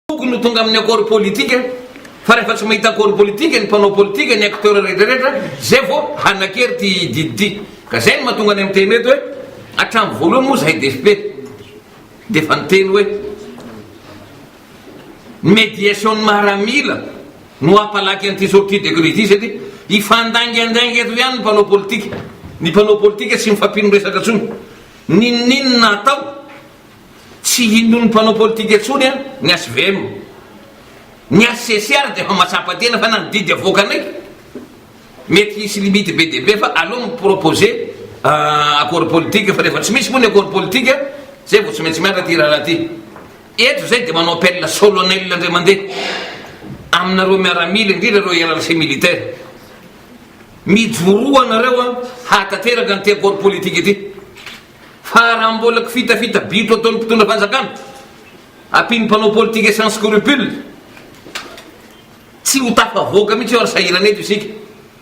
Tokony ho tonga amin'ny accord politique fa rehefa tsy mahita accord politique ny mpanao politique ny acteurs rehetra rehetra zay vao hanakery ity didy ity ka zay no mahatonga any miteny eto hoe hatramin'ny voalohany moa zahay DFP dia efa niteny hoe ny médiation ny maramila no hampalaky an'ity sortie de crise ity satria hifandaingandainga eto ihany ny mpanao politique ny mpanao politique tsy mifampino resaka intsony n'inon'inona atao Tsy hinon'ny mpanao politika intsony an ny HVM. Ny HCC ary dia efa matsapa tena fa na ny didy avoaka anay mety hisy limite be dia be fa aleo mi proposer accord politique fa rehefa tsy misy moa ny accord politique zay vao tsy maintsy miala ty rahalahy ty. Eto zay dia manao appel solonel indray mandeha aminareo miaramila indrindra ireo hiérarchie militaire. Mijoroa nareo an hahatateraka an'ity accord politique ity. Fa raha mbola kifitafita bitro ataon'ny mpitondra fanjakana, ampian'ny mpanao politika sans scrupule, tsy ho tafavoaka mihitsy io ary sahirana eto isika.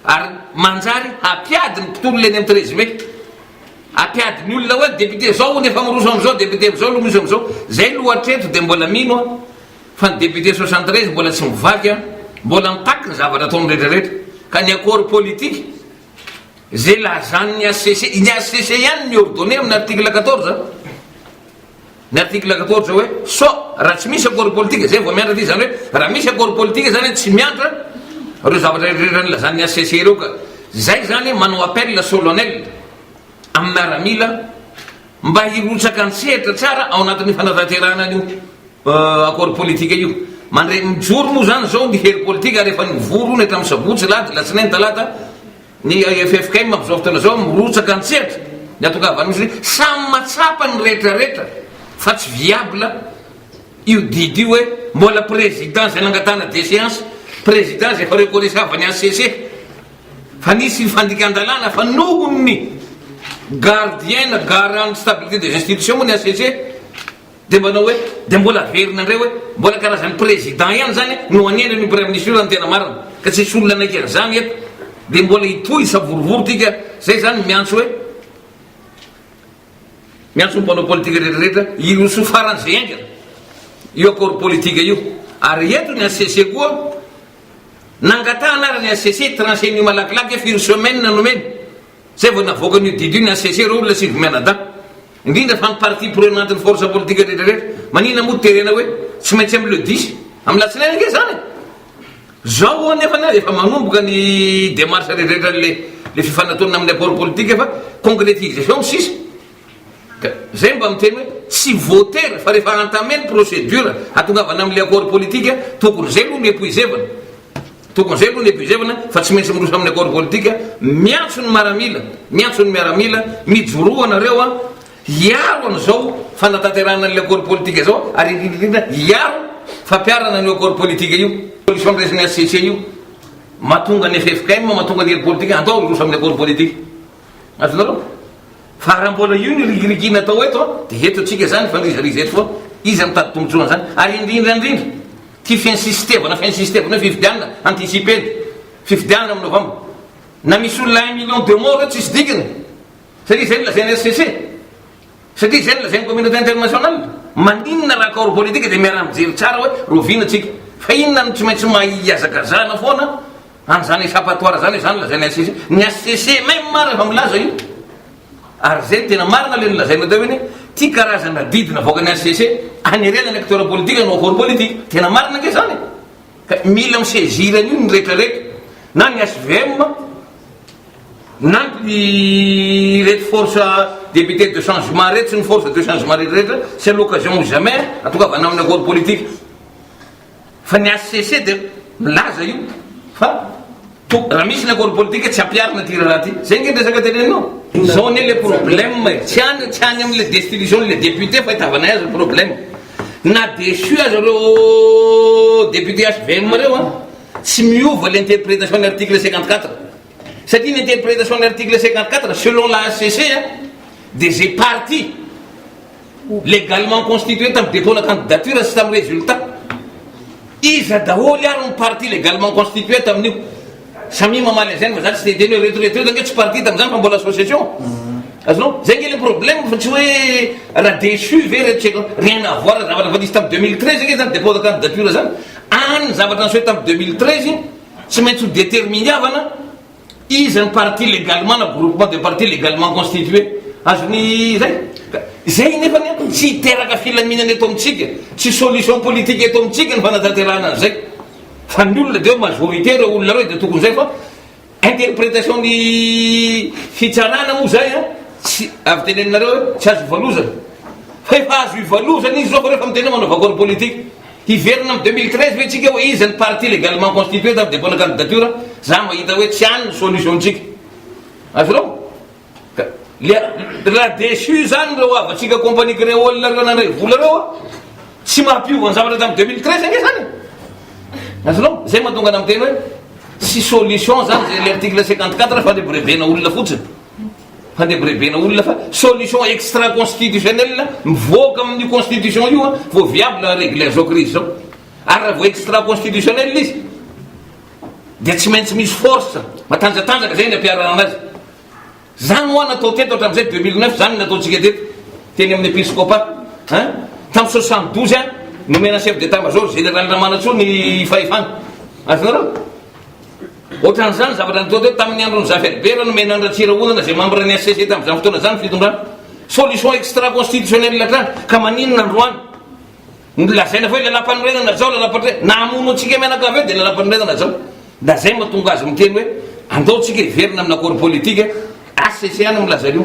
Ary manjary hampiady ny mpitolona eny amin'ny treize mai. Hampiady ny olona hoe député zao hono efa miroso amin'izao, député amin'izao no misy amin'izao. Zay lo hatreto dia mbola mino aho fa ny député soixante treize mbola tsy mivaky an, mbola mitaky ny zavatra ataony rehetra rehetra. Ka ny accord politique. Izay lazan'ny hcc, ny hcc ihany mi-ordonner amin'ny article quatorze an, ny article quatorze hoe sauf raha tsy misy accord politique, izay vao miantra aty, izany hoe raha misy accord politique izany an tsy miantra ireo zavatra rehetra nilazan'ny hcc ireo ka. Izay izany manao appel solennel amin'ny miaramila. Mba hirotsaka an-tsehatra tsara ao anatin'ny fanatanterahana an'io Accord politique io. Mandray mijoro moa izany izao ny hery politika ary efa nivory ony hatramin'ny sabotsy, lahady, alatsinainy, talata ny ffkm amin'izao fotoana izao mirotsaka an-tsehatra ny hatongavan'ny misy hoe samy mahatsapa ny rehetrarehetra fa tsy viable io didy io hoe mbola président izay nangatahana déchéance, président izay efa reconnaissable ny HCC. Fa nisy ny fandikan-dalàna fa nohon'ny gardien na garant de stabilité des institutions moa ny HCC dia manao hoe dia mbola averina indray hoe mbola karazan'ny président ihany izany no hanendry an'io praiministra io raha ny tena marina ka tsisy olona hanaiky an'izany eto dia mbola hitohy hisavorovoro tika izay izany miantso hoe miantso ny mpanao politika rehetrarehetra hiroso faran'izay haingana io accord politique io ary eto ny HCC koa Nangatahana ary ny HCC trancher an'io malakilaky efa une semaine no omena zay vao navoakany io didy io ny HCC ireo olona sivy mianadahy indrindra fa ny partie prenante ny force politique rehetra rehetra maninona moa terena hoe tsy maintsy am le dix am latsinainy ange zany e zao o nefany ary efa manomboka ny demarche rehetra rehetra le le fifanatona aminy apport politique fa concretisation no sisa Ka zay mba miteny hoe tsy voatery fa rehefa entamer ny procedure hatongavana amle accord politique tokony zay aloha no epuisevana, tokony zay aloha no epuisevana fa tsy maintsy miroso aminy accord politique, miantso ny maramila, miantso ny miaramila, mijoroa anareo a, hiaro anizao fanatanterahana anle accord politique zao ary indrindra indrindra hiaro fampiarana anio accord politique io, solution ny resin'ny HCC io, mahatonga ny ffkm, mahatonga ny heripolitika, andao hiroso aminy accord politique. Azonareo? Fa raha mbola io ny rigirigina atao eto an, dia eto antsika izany mifandirizariza eto foana. Iza mitady tombontsoa an'izany? Ary indrindra indrindra, ity finsistevana finsistevana hoe fifidianana anticiper, fifidianana amin'ny novambra. Na misy olona un million de morts eto tsisy dikany. Satria izay no lazain'ny HCC. Satria izay no lazain'ny communauté internationale. Maninona raha corps politique dia miaraha-mijery tsara hoe roviana antsika. Fa inona no tsy maintsy mahihazakazahana foana Any zany echapatoire zany izany lazain'ny HCC. Ny HCC même ary efa milaza io. Ary zay no tena marina le nolazainao teo iny, ty karazana didy navoakan'ny HCC hanerena ny acteur politique hanao accord politique. Tena marina ange zany e. Ka mila mi-saisir an'io ny rehetra rehetra. Na ny HVM, na ny ireto force député de changement reto sy ny force de changement rehetra rehetra, c'est l'occasion ou jamais, atokavana amin'ny accord politique. Fa ny HCC dia milaza io fa to raha misy ny accord politique tsy ampiharina ity raharaha ity. Zay ange ny resaka teneninao. Zao anie le problème e, tsy any tsy any amle destitution le député fa itavanay azy ny problème. Na déçu aza reo député HVM reo an, tsy miova le interprétation ny article cinquante quatre. Satria ny interprétation ny article cinquante quatre selon la HCC an dia ze parti. Légalement constitué tamin'ny dépôt na candidature sy tamin'ny résultat. Iza daholo ary ny parti légalement constitué tamin'io? Samia mamaly an'izay ny vazaha tsy te hiteny hoe reto reto reto ange tsy parti tamin'izany fa mbola association. Azonao? Izay ange le problème fa tsy hoe raha déçu ve reto tsy haiko. Rien à voir zavatra efa nisy tamin'ny 2013 ange izany dépôt na candidature izany. Any ny zavatra niseho tamin'ny 2013 tsy maintsy ho déterminiavana. Iza ny parti legalement na groupement de parti legalement constitué? Azony izay? Ka izay nefany an, tsy hiteraka filaminana eto amintsika, tsy solution politique eto amintsika ny fanatanterahana an'izay. Fa ny olona dia hoe majorité ireo olona ireo dia tokony izay fa interpretation ny fitsarana moa izay an, tsy avy teny aminareo hoe tsy azo ivalozana. Fa efa azo ivalozana izy izao fa reo efa miteny hoe manao vakoan'ny politique. Hiverina am deux mille treize ve tsika hoe iza ny parti legalement constitué tamin'ny dépôt na candidature? Za mahita hoe tsy any ny solution tsika. Azonao? Ka le raha déçu zany reo havatsika compagnie créole reo nandray vola reo a! Tsy mampiova ny zavatra tamin'ny deux mille treize ange zany e! Azonao? Zay mahatonga ana miteny hoe tsy solution zany zay le article cinquante quatre fa le brevet-na olona fotsiny. Handebirebena olona fa solution extra constitutionnelle mivoaka amin'io constitution io an, vao viable à regler zao crise zao. Ary raha vao extra constitutionnelle izy dia tsy maintsy misy force matanjatanjaka zay ny ampiharana azy. Zany hoa natao teto hatramin'izay 2009 zany nataontsika teto teny amin'ny episcopat an, tamin'ny 72 an, nomena chef d'état major général Ramanantsoa ny fahefana. Azonareo? Ohatran'izany zavatra nitoa teo tamin'ny andron'i Zafir Bera nomena an'i Ratsirahonana izay mambra ny HCC tamin'izany fotoana izany ny fitondrana. Solution extra constitutionnelle hatrany ka maninona androany no lazaina fa hoe lalàmpanorenana zao lalàmpano hoe na hamono antsika mianakavy eo dia lalàmpanorenana zao. Nda zay mahatonga azy miteny hoe andao tsika hiverina amina accord politique HCC any milaza an'io.